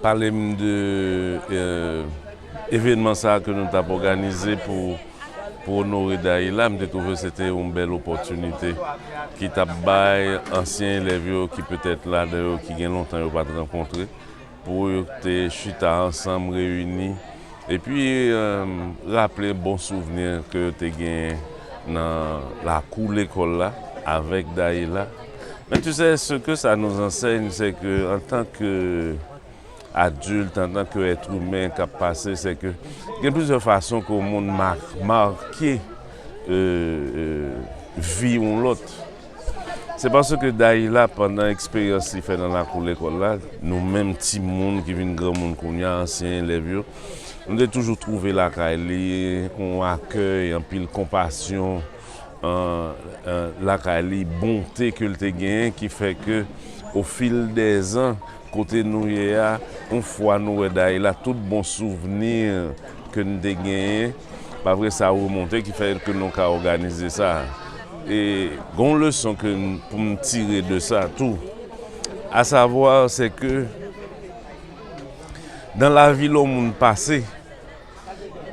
Pale m de evenman sa ke nou tap òganize pou onore Dayila. M te twouve se te yon bèl opòtinite ki tap bay ansyen elèv yo ki petèt ladan yo ki gen lontan yo pat rankontre pou yo te chita ansanm reyini. Epi raple bon souvni ke yo te genyen nan lakou lekòl la avèk Dahila. Men tu sè, se ke sa nous enseigne, se ke antan ke adilt, antan ke èt imen k ap pase, se ke gen plizyè fason ke yon moun make vi yon lòt. Se paske Dayila, pandan eksperyans li fè nan lakou lekòl la, nou menm timoun ki vin granmoun kounye a, ansyen elèv yo, nou te toujou twouve lakay li yon akèy, anpil konpasyon lakay li, bonte ke l te genyen ki fè ke ofil dè zan kote nou ye a, yon fwa nou wè Dayila, tout bon souvni ke n te genyen. Pa vre sa remonte ki fè ke nou ka òganize sa. E gen yon leson ke pou m tire de sa tou. A savwa se ke nan lavi lè yon moun pase,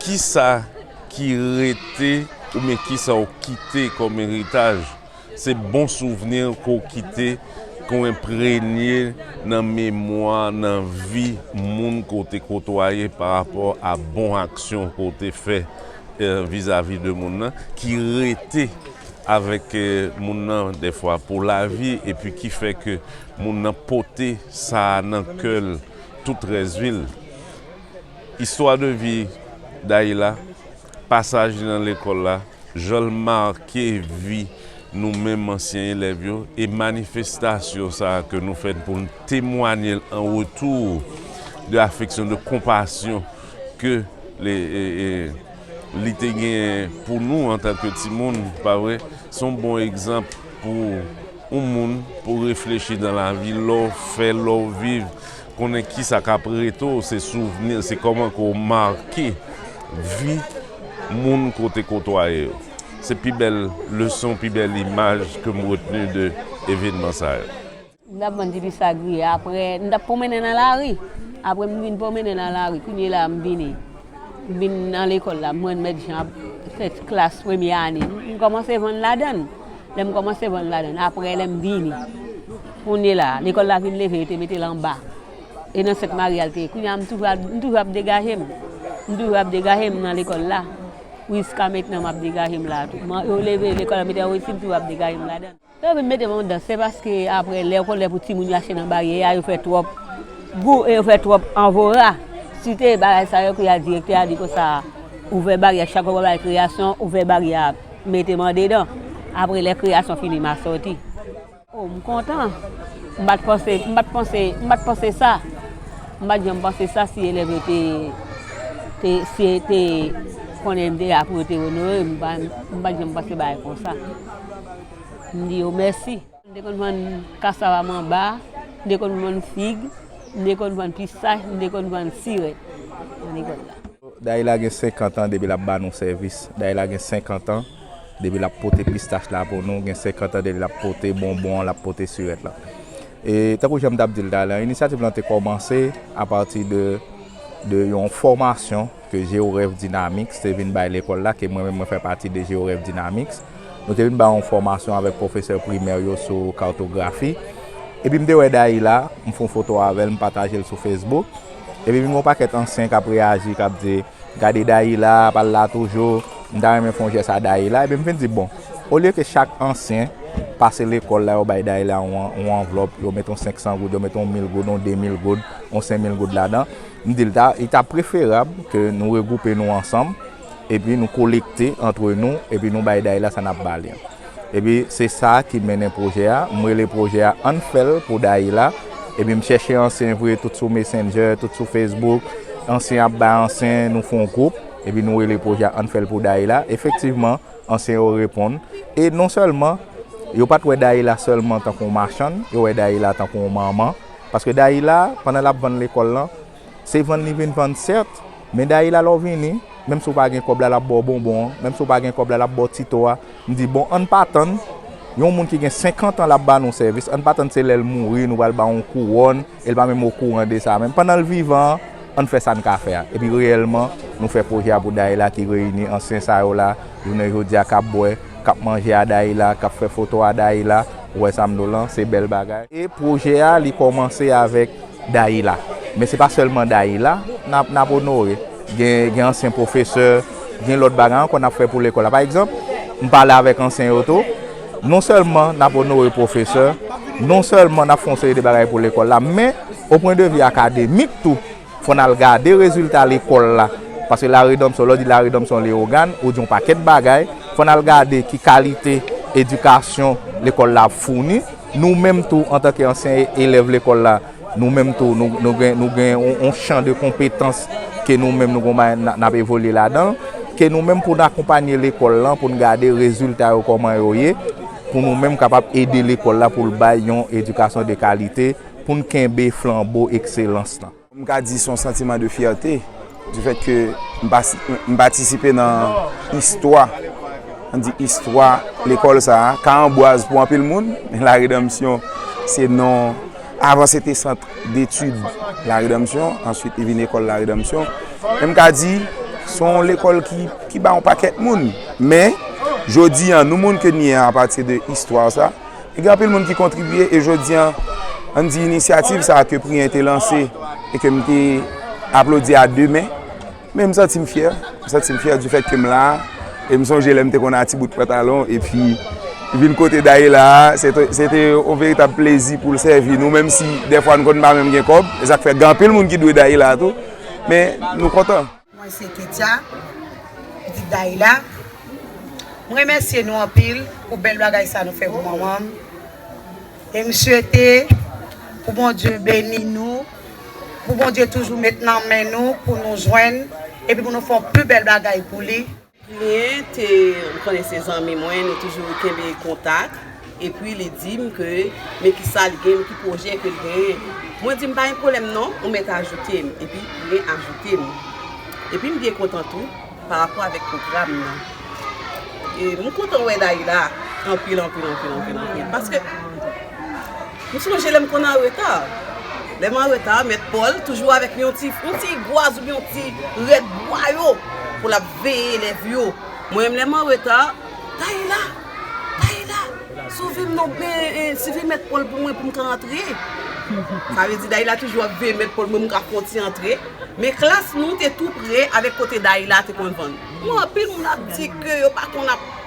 kisa ki rete oubyen kisa ou kite kòm eritaj? Se bon souvni ke w kite, ke w enprenye nan memwa, nan vi moun ke w te kotwaye pa rapò a bon aksyon ke w te fè vizavi de moun nan, ki rete avèk moun nan dèfwa pou lavi epi ki fè ke moun nan pote sa a nan kè l tout rès vi l. Istwa de vi Dayila Pasaj li nan lekòl la, jan l make vi nou menm ansyen elèv yo e manifestasyon sa a ke nou fè pou n temwanye l an retou de afeksyon, de konpasyon ke li te genyen pou nou antanke timoun, pa vre? Se yon bon egzanp pou yon moun pou reflechi nan lavi, lè w fè, lè w viv. Konnen kisa k ap rete w se souvni, se kòman ke w make vi moun ke w te kotwaye yo. Se pi bèl leson, pi bèl imaj ke m retni de evenman sa yo. M t ap vann dipi sagriye aprè m t ap pwomennen nan lari. Aprè m vin pwomennen nan lari kounyela a m vini m vin nan lekòl la m renmèt jan ap fè ti klas premye ane m kòmanse vann ladann. Lè m kòmanse vann ladann aprè lè m vini Kounye la, lekòl la vin leve, yo te mete l anba. E nan Sent Mari a l te ye. Kounye a, m toujou m toujou ap degaje m. M toujou ap degaje m nan lekòl la. Jiska mentnan m ap degaje m la a tou. Yo leve lekòl la, mete anwo isi, m toujou ap degaje m ladan. Yo vin mete m anwo dan. Se paske apre lè kolè pou timoun yo achte nan baryè a, yo fè twòp bri e yo fè twòp anvora. Si te bagay sa yo, kounye a direktè a di konsa, ouvè baryè a. Chak lè w ap bay kreyasyon, ouvè baryè a, mete m andedan. Apre lè kreyasyon fini, m a soti. Oh m kontan, m pat panse, m pat panse, m pat panse sa, m pat janm panse sa si elèv yo te, te, si yo te konnen m te la pou yo te onore m, m pat janm panse bagay konsa. M di yo mèsi. M te konn vann kasava manba, m te konn vann fig, m te konn vann pistach, m te konn vann sirèt nan lekòl la. Dayila gen 50 an depi l ap ba nou sèvis. Dayila gen 50 an. depi lap pote pistach la pou nou gen 50 an depi lap pote bonbon an lap pote sirèt la e tankou janm tap dil talè an inisyativ lan te kòmanse apati de de yon fòmasyon ke Georef Dynamix te vin bay lekòl la ke mwen menm mwen fè pati de Georef Dynamix nou te vin bay yon fòmasyon avèk pwofesè primè yo sou kartografi epi mte wè Dayila mfon foto avèl mpataje l sou Facebook epi vin gon pakèt ansyen kap reyaji kap di. Gade Dahila ap al la toujou. M ta renmen fè yon jès a Dahila. Epi m fin di bon, olye ke chak ansyen pase lekòl la yo bay Dahila yon anvlòp, yo met yon 500 goud, yo met yon 1000 goud, yon 2000 goud, yon 5000 goud ladan. M di l ta, li ta preferab ke nou regwoupe nou ansanm, epi nou kolekte antre nou, epi nou bay Dahila sa n ap ba li an. Epi se sa ki mennen pwojè a, m rele pwojè a Ann fè l pou Dayila, epi m chèche ansyen vre tout sou Messenger, tout sou Facebook, ansyen ap bay ansyen, nou fon gwoup, epi nou rele pwojè a Ann fè l pou Dayila, efektivman ansyen yo reponn, e non sèlman yo pat wè Dayila sèlman tankou yon machann, yo wè Dayila tankou yon manman, paske Dayila pandan l ap vann lekòl lan. Se vann li vin vann sèt, men Dayila lè w vini, menm si w pa gen kòb la, l ap ba w bonbon an, menm si w pa gen kòb la, l ap ba w ti to a. M di, bon, ann pa tann, yon moun ki gen senkantan l ap ba nou sèvis, ann pa tann se lè l mouri nou pral ba l yon kouwòn e l pa menm okouran de sa menm. Pandan l vivan an, ann fè sa n ka fè a. Epi reyèlman, nou fè pwojè a pou Dayila ki reyini ansyen sa yo la, jounen jodi a, k ap bwè, k ap manje a Dayila, k ap fè foto a Dayila. Ou wè sa m di w lan? Se bèl bagay. E pwojè a li kòmanse avèk. Dayila. Men se pa sèlman Dayila n ap onore. Gen ansyen pwofesè, gen lòt bagay ankò n ap fè pou lekòl la. Pa egzanp, m pale avèk ansyen yo tou. Non sèlman n ap onore pwofesè, non sèlman n ap fè yon seri de bagay pou lekòl la, men o pwen de vi akademik tou, fò n al gade rezilta lekòl la. Paske laredanmsyon, lè w di laredanmsyon Leyogàn, ou di yon pakèt bagay. Fò n al gade ki kalite edikasyon lekòl la ap founi. Nou menm tou antanke ansyen elèv lekòl la, nou menm tou nou gen yon chan de konpetans ke nou menm nou konn n ap evolye ladan l, ke nou menm pou n akonpanye lekòl lan pou n gade rezilta yo kòman yo ye, pou nou menm kapab ede lekòl la pou l bay yon edikasyon de kalite, pou n kenbe flanbo ekselans lan. M ka di son santiman de fyète di fèt ke m patisipe nan istwa, an di istwa lekòl sa a, ka anbwaz pou anpil moun, men la redanmsyon se non, avan se te sant detid la redanmsyon, answit li vin ekòl la redanmsyon, men m ka di son lekòl ki ba yon pakèt moun, men jodi an nou moun ke n ye a apati de istwa sa. Gen anpil moun ki kontribye e jodi an, an di inisyativ sa a ke Priyen te lanse e ke m te aplodi a de men. Men m santi m fyè, m santi m fyè di fèt ke m la a. E m sonje lè m te konn a ti bout pantalon e pi vin kote Dahila a, se te yon veritab plezi pou l sèvi nou menm si dèfwa n konn pa menm gen kòb. E sa k fè gen anpil moun ki dwe Dahila tou. Men nou kontan. Mwen se Ketya, pitit Dahila. M remèsye nou anpil pou bèl bagay sa nou fè pou manman m. E m swete pou Bondye beni nou, pou Bondye toujou met nan men nou pou nou jwenn epi pou nou fè yon pi bèl bagay pou li. Plien te ou konnen se zanmi mwen nou toujou kenbe kontak epi li di m ke men kisa li gen men ki pwojè ke l genyen mwen di m pa gen pwoblèm non ou mèt ajoute m epi Plien ajoute m epi m byen kontan tou pa rapò avèk pwogram nan e m kontan wè Dayila anpil anpil anpil anpil anpil paske M sonje lè m konn anreta. Lè m anreta, mèt Pòl toujou avèk yon ti gwaz oubyen yon ti rèd bwa yo pou l ap veye elèv yo. Mwen menm lè m anreta, Tayla! Tayla! Sove m non, sove mèt Pòl pou mwen pou m ka antre. Sa vle di Dayla toujou ap veye mèt Pòl pou m ka konti antre. Men klas nou te tou pre avèk kote Dayla te konn vann. Anpil moun ap di ke yo pa konn ap.